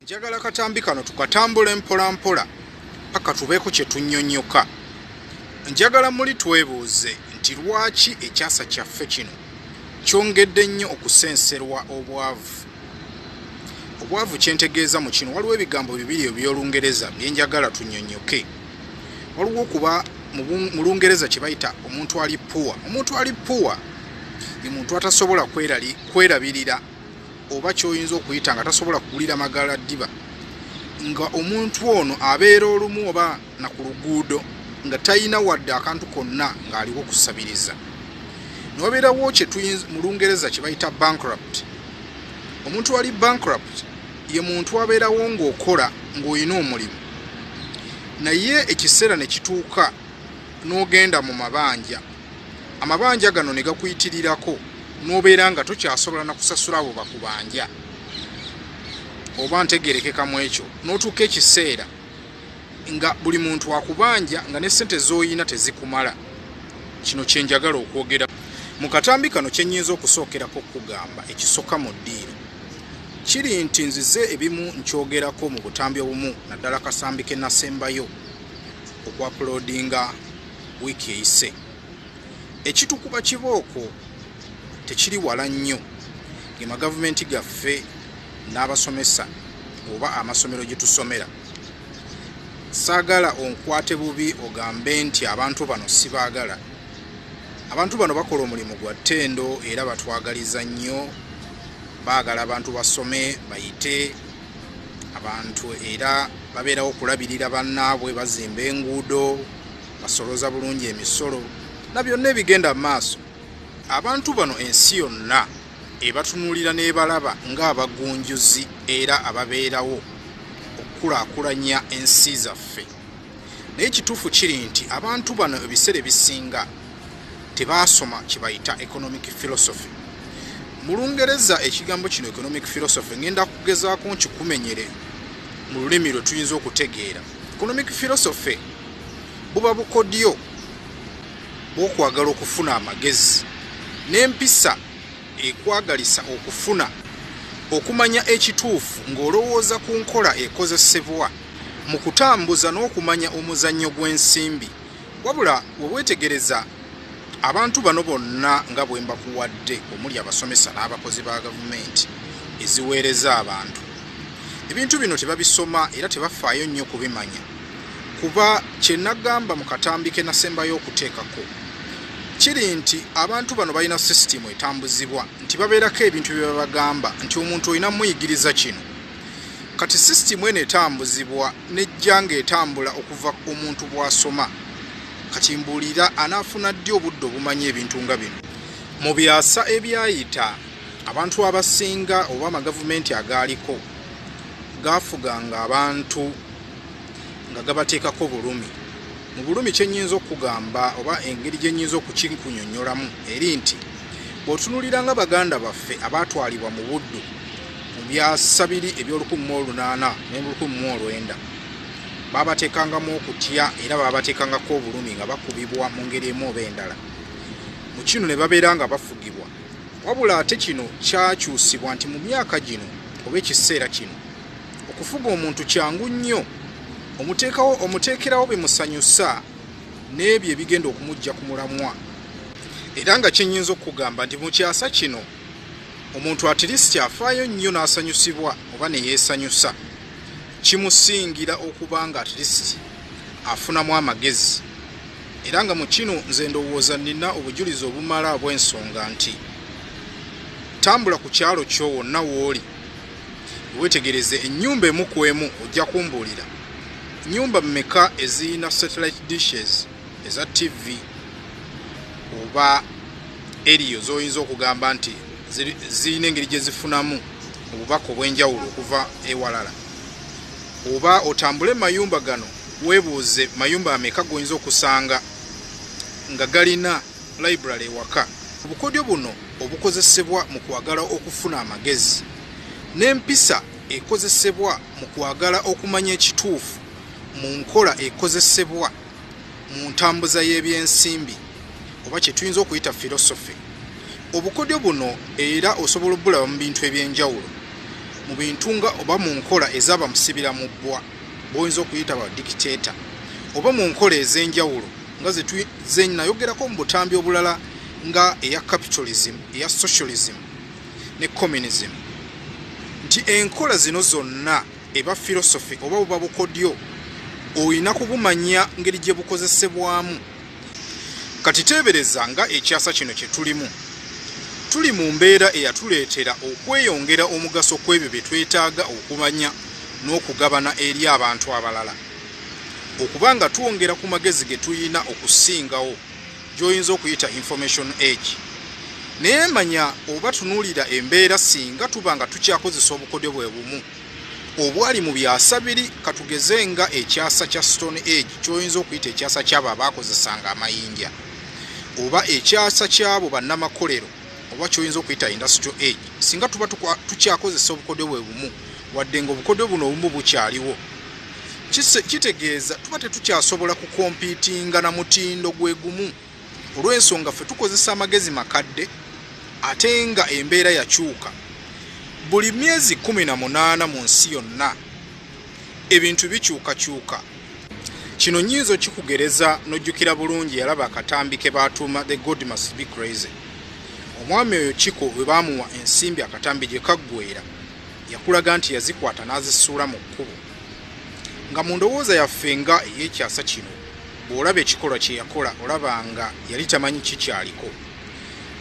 njagala katambi kano tukatambule mpola mpola paka tubeeko kye tunnyonnyoka njagala muli twebuuze nti lwaki ekyasa kyaffe kino kyongedde nnyo okusenserwa obwavu obwavu kyentegeeza mu kino waliwo ebigambo bibiri ebyolungereza byenjagala tunyonyoke waliwo okuba mu lungereza kye bayita omuntu ali puwa omuntu ali puwa ye muntu atasobola kwerabirira oba kyoyinza okuyita nga tasobola kugulira magala ddiba nga omuntu ono abeera olumu oba na ku luguudo nga talina wadde akantu konna ng'aliwo kusabiriza nobeerawo mu lungereza kye bayita bankrupt omuntu wali bankrupt ye muntu abeerawo ng'okola ng'olina omulimu naye ekiseera ne kituuka n'ogenda mu mabanja amabanja gano ne gakuyitirirako n'obeera nga tokyasobola na kusasula abo bakubanja oba ntegerekeka mu ekyo n'otuuka ekiseera nga buli muntu akubanja nga ne sente zoyina tezikumala kino kyenjagala okwogera mu katambi kano kyenyinza okusookerako okugamba ekisoka mu ddiiro kiri nti nzize ebimu nkyogerako mu butambi obumu naddala kasambi ke nasembayo okwapulodinga wiiki eyise ekitukuba kibooko tekiri wala nnyo gemagavumenti gaffe n'abasomesa oba amasomero gye tusomera saagala onkwate bubi ogambe nti abantu bano sibaagala abantu bano bakola omulimu gwa ttendo era batwagaliza nnyo baagala abantu basome bayite abantu era babeerawo okulabirira bannaabwe bazimba enguudo basoloza bulungi emisolo na byonna ebigenda mu maaso abantu bano ensi yonna ebatunuulira n'ebalaba ng'abagunjuzi era ababeerawo okukulaakulanya ensi zaffe naye ekituufu kiri nti abantu bano ebiseera ebisinga tebaasoma kibayita economic philosophy mu lungereza ekigambo kino economic philosophy ngenda kugezaako nkikumenyere mu lulimi lwe tuyinza okutegeera economic philosophy buba bukodyo bwokwagala okufuna amagezi n'empisa ekwagalisa okufuna okumanya ekituufu ng'olowooza ku nkola ekozesebwa mu kutambuza n'okumanya omuzannyo gw'ensimbi wabula webwetegereza abantu bano bonna nga bwe mbakuwadde omuli abasomesa n'abakozi ba gavumenti eziweereza abantu ebintu bino tebabisoma era tebafaayo nnyo kubimanya kuba kye nagamba mu katambi ke nasembayo okuteekako kiri nti abantu bano balina sisitimu etambuzibwa nti babeerako ebintu bye babagamba nti omuntu olina muyigiriza kino kati sisitimu eno etambuzibwa nejja ng'etambula okuva omuntu bw'asoma kati mbuulira anaafuna ddi obudde obumanya ebintu nga bino mu byasa ebyayita abantu abasinga oba amagavumenti agaaliko gaafuganga abantu nga gabateekako bulumi mu bulumi kyenyinza okugamba oba engeri gyenyinza okukikunyonyolamu eri nti bwotunulira nga baganda baffe abaatwalibwa mu buddu mu byasa biri ebyolukumi mu olunaana nolukumi mu olwenda baabateekangamu okutya era baabateekangako obulumi nga bakubibwa mu ngeri emu oba endala mu kino ne babeera nga bafugibwa wabula ate kino kyakyusibwa nti mu myaka gino oba ekiseera kino okufuga omuntu kyangu nnyo omuteekawo omuteekerawo bimusanyusa n'ebyo ebigenda okumujja ku mulamwa era nga kyenyinza okukugamba nti mu kyasa kino omuntu atirisiti afaayo nnyo n'asanyusibwa oba ne yeesanyusa kimusingira okuba nga atirisiti afunamu amagezi era nga mu kino nze ndowooza nnina obujulizi obumala obw'ensonga nti tambula ku kyalo kyo wonna w'oli wetegereze enyumba emu ku emu ojja kumbuulira nyumba meka ezirina satellite dishes eza tv oba eriyo zoyinza okugamba nti zirina engeri gye zifunamu obubaka obw'enjawulo okuva ewalala oba otambule mayumba gano webuuze mayumba ameka goyinza okusanga nga galina Library ewaka. Obukodyo buno obukozesebwa mu kwagala okufuna amagezi n'empisa ekozesebwa mu kwagala okumanya ekituufu mu nkola ekozesebwa mu ntambuza y'ebyensimbi oba kye tuyinza okuyita philosophy. Obukodyo buno era osobola obulaba mu bintu eby'enjawulo mu bintu nga oba mu nkola ez'abamusibira mu bbwa b'oyinza okuyita ba dictator oba mu nkola ez'enjawulo. nga zenayogerako mu butambi obulala nga eya capitalism eya socialism ne communism nti enkola zino zonna eba philosophy oba buba bukodyo olina kubumanya ngeri gye bukozesebwamu kati teebereza nga ekyasa kino kye tulimu tuli mu mbeera eyatuleetera okweyongera omugaso kw'ebyo bye twetaaga okumanya n'okugabana eri abantu abalala Okuba nga twongera ku magezi ge tulina okusingawo gy'oyinza okuyita information age. Naye manya oba tunuulira embeera singa tuba nga tukyakozesa obukodyo bwe bumu obwali mu byasa biri katugeze nga ekyasa kya stone age kyoyinza okuyita ekyasa kyabo abaakozesanga amayinja oba ekyasa kyabo bannamakolero oba kyoyinza okuyita industrial age singa tuba tukyakozesa obukodyo bwe bumu wadde nga obukodyo buno obumu bukyaliwo kitegeeza tuba tetukyasobola kukompitinga na mutindo gwe gumu olw'ensonga ffe tukozesa amagezi makadde ate nga embeera yakyuka buli myezi 18 mu nsi yonna ebintu bikyukakyuka. Kino nnyinza okikugereza n'ojjukira bulungi yalaba akatambi ke baatuuma The God Must Be Crazy. Omwami oyo Kiko bwe baamuwa ensimbi akatambi gye kaggweera, yakulaga nti yazikwata n'azisuula mu kkubo. Nga mu ndowooza yaffe nga ey'ekyasa kino, bw'olaba ekikolwa kye yakola olaba nga yali tamanyi kikyaliko.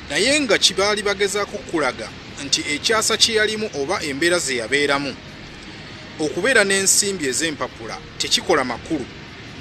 Naye nga kye baali bagezaako okukulaga nti ekyasa kye yalimu oba embeera ze yabeeramu Okubeera n'ensimbi ez'empapula tekikola makulu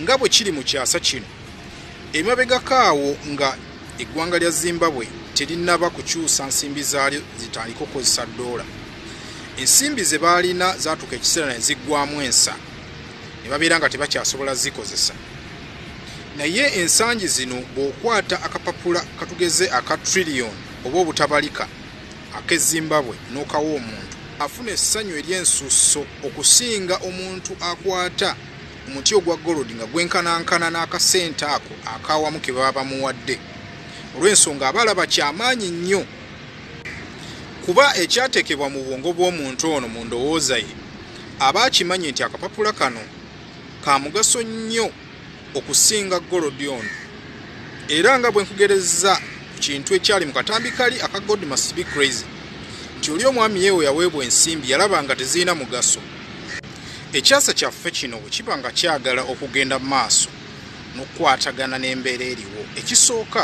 nga bwe kiri mu kyasa kino. Emabegako awo nga eggwanga lya Zimbabwe terinnaba kukyusa nsimbi zaalyo zitandike okukozesa ddoola, ensimbi ze baalina zaatuuka ekiseera ne ziggwaamu ensa ne babeera nga tebakyasobola zikozesa. Naye ensangi zino bw'okwata akapapula katugeze aka trillion oba obutabalika, ak'e Zimbabwe n'okawa omuntu, afuna essanyu ery'ensusso okusinga omuntu akwata omuti ogwa golodi nga gwenkanankana n'akasente ako ak'awamu ke baba bamuwadde olw'ensonga aba alaba kya maanyi nnyo kuba ekyateekebwa mu bwongo bw'omuntu ono mu ndowooza ye aba akimanyi nti akapapula kano ka mugaso nnyo okusinga golodi ono era nga bwe nkugerezza ku kintu ekyali mu katambi kali aka god must be crazy nti oli omwami yeewo yaweebwa ensimbi yalaba nga tezirina mugaso ekyasa kyaffe kino bwe kiba nga kyagala okugenda maaso n'okukwatagana n'embeera eriwo ekisooka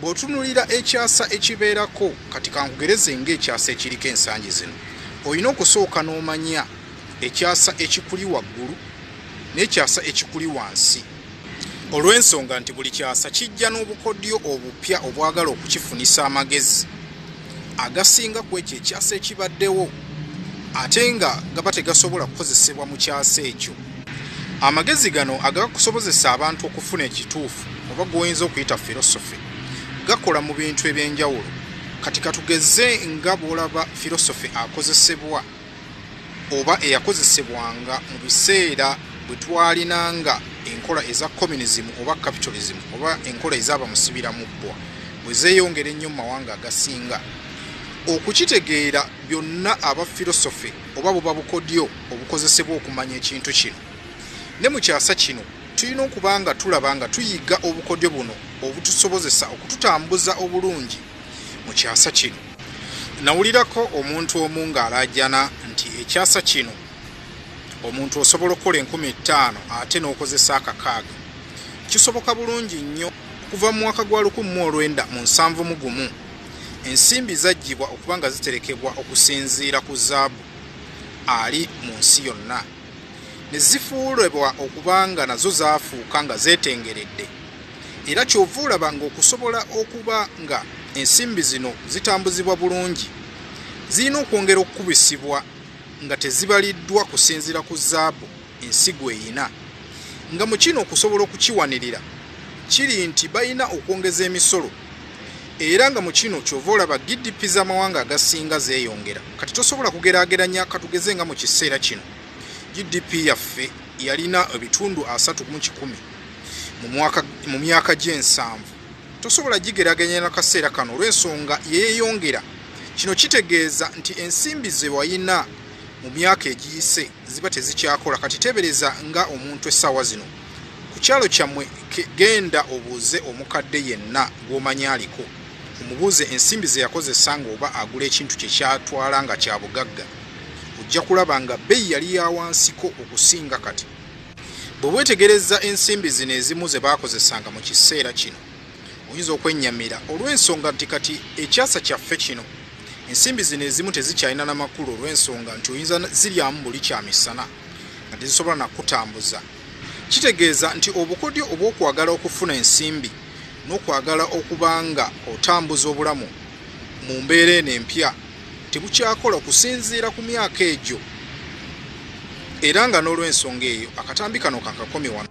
Bw'otunulira ekyasa ekibeerako, kati kankugereze ng'ekyasa ekiriko ensangi zino, olina okusooka n'omanya ekyasa ekikuli waggulu n'ekyasa ekikuli wansi olw'ensonga nti buli kyasa kijja n'obukodyo obupya obwagala okukifunisa amagezi agasinga ku ekyo ekyasa ekibaddewo ate nga gaba tegasobola kukozesebwa mu kyasa ekyo. Amagezi gano agakusobozesa abantu okufuna ekituufu oba gwoyinza okuyita philosophy gakola mu bintu ebyenjawulo kati katugeze nga bwolaba philosophy akozesebwa oba eyakozesebwanga mu biseera bwe twalinanga enkola eza communism oba capitalism oba enkola ezaaba musibira mu bbwa bwe zeeyongera ennyo mu mawanga agasinga okukitegeera byonna aba philosophy oba buba bukodyo obukozesebwa okumanya ekintu kino. Ne mu kyasa kino, tulina okuba nga tulaba nga tuyiga obukodyo buno obutusobozesa okututambuza obulungi mu kyasa kino. Nawulirako omuntu omu ng'alaajana nti ekyasa kino omuntu osobola okukola enkumi ettaano ate n'okozesa akakaaga. Kisoboka bulungi nnyo okuva mu mwaka gwa lukumi mu olwenda mu nsanvu mu gumu. Ensimbi zaggyibwa okuba nga ziterekebwa okusinziira ku zaabu ali mu nsi yonna ne zifuulebwa okuba nga nazo zaafuuka nga zeetengeredde era kyova olaba ng'okusobola okuba nga ensimbi zino zitambuzibwa bulungi zirina okwongera okukubisibwa nga tezibaliddwa kusinziira ku zaabu ensigo eyina nga mu kino okusobola okukiwanirira kiri nti balina okwongeza emisolo era nga mu kino kyova olaba gdp z'amawanga agasinga zeeyongera kati tosobola kugeraageranya katugeze nga mu kiseera kino gdp yaffe yalina ebitundu asatu mu kikumi mu myaka gy'ensanvu tosobola gigeraageranya na kaseera kano olw'ensonga yeeyongera kino kitegeeza nti ensimbi ze walina mu myaka egiyise ziba tezikyakola kati tebereza nga omuntu essaawa zino ku kyalo kyammwe genda obuuze omukadde yenna gw'omanyi aliko omubuuze ensimbi ze yakozesa ng'oba agula ekintu kye kyatwala nga kya bugagga ojja kulaba nga bbeyi yali ya wansiko okusinga kati bwe weetegereza ensimbi zino ezimu ze baakozesanga mu kiseera kino Oyinza okwennyamira olw'ensonga nti kati ekyasa kyaffe kino ensimbi zino ezimu tezikyalina na makulu olw'ensonga nti oyinza ziryamu buli kya misana nga tezisobola nakutambuza. Kitegeeza nti obukodyo obw'okwagala okufuna ensimbi n'okwagala okuba nga otambuza obulamu mu mbeera eno empya tebukyakola kusinziira ku myaka egyo era nga n'olw'ensonga eyo akatambi kano kakakomi wano.